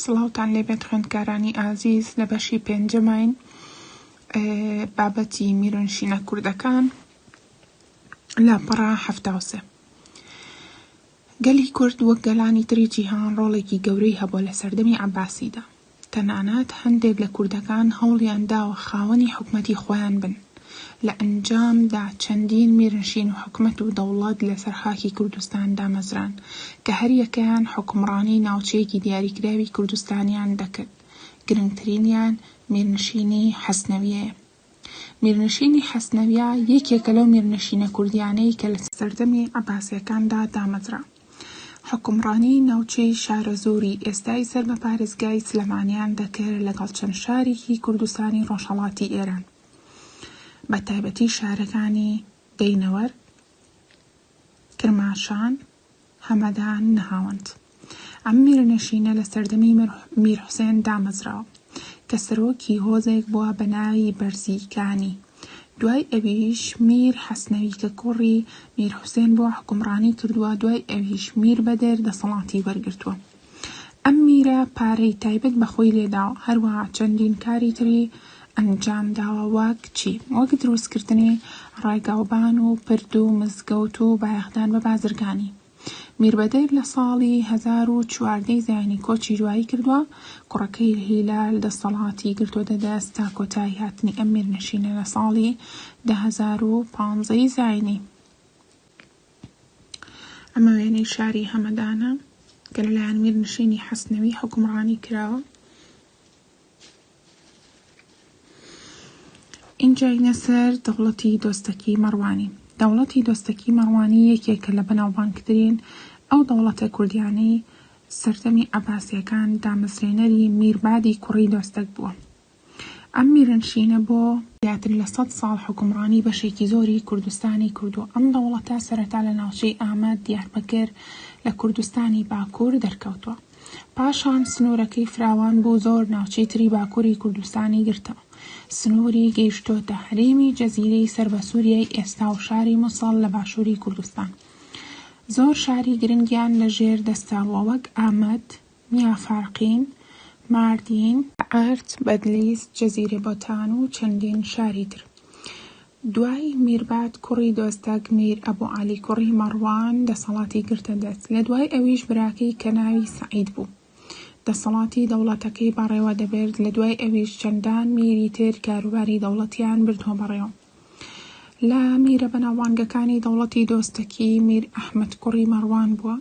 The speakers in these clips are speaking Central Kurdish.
سڵاوتان لێبێت خوێندکارانی ئازیز لە بەشی پێنجەماین بابەتی میرۆنشینە کوردەکان لاپەڕە هەفتاوسێ گەلی کورد وەک گەلانی تری جیهان ڕۆڵێکی گەورەی هەبووە لە سەردەمی عباسیدا تەنانەت هەندێک لە کوردەکان هەوڵیان داوە خاوەنی حکومەتی خۆیان بن، لە ئەنجامدا چەندین میرنشین و حکومەت و دەوڵەت لەسەر خاکی کوردستان دامەزران، کە هەریەکەیان حوکمڕانی ناوچەیەکی دیاریکراوی کوردستانیان دەکرد، گرنگترینیان میرنشینی حەسنەویەیە. میرنشینی حەسنەویە یەکێکە لەو میرنشینە کوردیانەی کە لە سەردەمی عەباسیەکاندا دامەزرا. حوکمڕانیی ناوچەی شارەزووری ئێستای سەر بە پارێزگای سلێمانیان دەکرد لەگەڵ چەند شارێکی کوردستانی ڕۆژهەڵاتی ئێران بە تایبەتی شارەکانی، دەینەوەر، کرماشان، هەمەدان، نەهاوەند. ئەم میرنشینە لە سەردەمی میر حوسێن دامەزرا کە سەرۆکی هۆزێک بووە بە ناوی بەرزیکانی، دوای ئەویش میر حەسنەوی کە کوڕی میر حوسێن بووە حوکمڕانی کردووە، دوای ئەویش میر بەدر دەسەڵاتی وەرگرتووە. ئەم میرە پارەی تایبەت بە خۆی لێداوە، هەروەها چەندین کاری تری ئەنجامداوە وەک چی؟ وەک دروستکردنی ڕێگاوبان و پرد و مزگەوت و بایەخدان بە بازرگانی. میر بەدر لە ساڵی هەزار و چواردە ی زایینی کۆچی دوایی کردووە، کوڕەکەی هیلال دەستەڵاتی گرتۆتە دەست تا کۆتایی هاتنی ئەم میرنشینە لە ساڵی دە هەزار و پانزە ی زایینی. ئەمە وێنەی شاری هەمەدانە کە لەلایەن میرنشینی حەسنەوی حوکمڕانی کراوە. ئینجاینە سەر دەوڵەتی دۆستەکی مەڕوانی. دەوڵەتی دۆستەکی مەڕوانی یەکێکە لە بەناوبانگترین ئەو دەوڵەتە کوردیانەی سەردەمی عەباسییەکان دامەزرێنەری میربادی کوڕی دۆستەک بووە. ئەم میرنشینە بۆ زیاتر لە سەد ساڵ حوکمڕانی بەشێکی زۆری کوردستانی کردووە، ئەم دەوڵەتە سەرەتا لە ناوچەی ئامەد، دیاربەکر لە کوردستانی باکوور دەرکەوتووە، پاشان سنوورەکەی فراوان بوو زۆر ناوچەی تری باکووری کوردستانی گرتەوە، سنووری گەیشتۆتە هەرێمی جەزیرەی سەر بە سووریای ئێستا و شاری موسڵ لە باشووری کوردستان زۆر شاری گرنگیان لە ژێر دەستە وەک ئامەد، میاں فارقین، ماردین، ئارت، بەدلیس، جزیرە بۆتان و چەندین شاری تر دوای میرباد کوڕی دۆستەک میر ئەبو عەلی کوڕی مەڕوان دەسەڵاتی گرتە دەست لە دوای ئەویش براکەی کە ناوی سەعید بوو دەسەڵاتی دەوڵەتەکەی بەڕێوە دەبرد لە دوای ئەویش چەندان میری تر کاروباری دەوڵەتیان بردوە بەڕێوە. لە میرە بەناوبانگەکانی دەوڵەتی دۆستەکی میر ئەحمەد کوڕی مەڕوان بووە،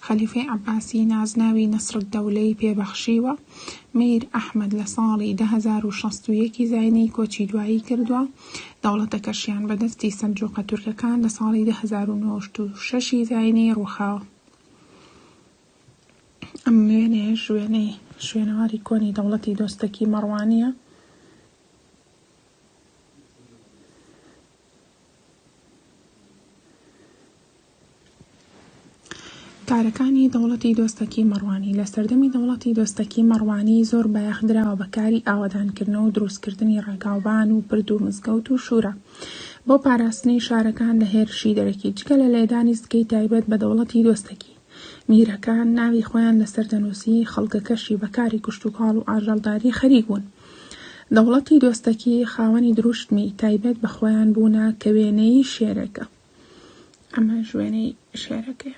خەلیفەی عەباسی نازناوی نەسرەددەولەی پێ بەخشیوە، میر ئەحمەد لە ساڵی دە هەزار و شەست و یەک ی زاینی کۆچی دوایی کردووە، دەوڵەتەکەشیان بە دەستی سەلجوقە تورکەکان لە ساڵی دە هەزار و نۆشت و شەش ی زاینی ڕووخاوە. ئەم وێنەیەش وێنەی شوێنەواری کۆنی دەوڵەتی دۆستەکی مەڕوانییە. کارەکانی دەوڵەتی دۆستەکی مەڕوانی، لە سەردەمی دەوڵەتی دۆستەکی مەڕوانی زۆر بایەخ دراوە بە کاری ئاوەدانکردنەوە و دروستکردنی ڕێگاوبان و پرد و مزگەوت و شورا بۆ پاراستنی شارەکان لە هێرشی دەرەکی، جگە لە لێدانی سکەی تایبەت بە دەوڵەتی دۆستەکی. میرەکان ناوی خۆیان لەسەر دەنووسی، خەڵکەکەشی بە کاری کشتوکاڵ و ئاژەڵداری خەریک بوون. دەوڵەتی دۆستەکی خاوەنی دروشمی تایبەت بە خۆیان بوونە کە وێنەی شێرێکە. ئەمەش وێنەی شێرەکەیە.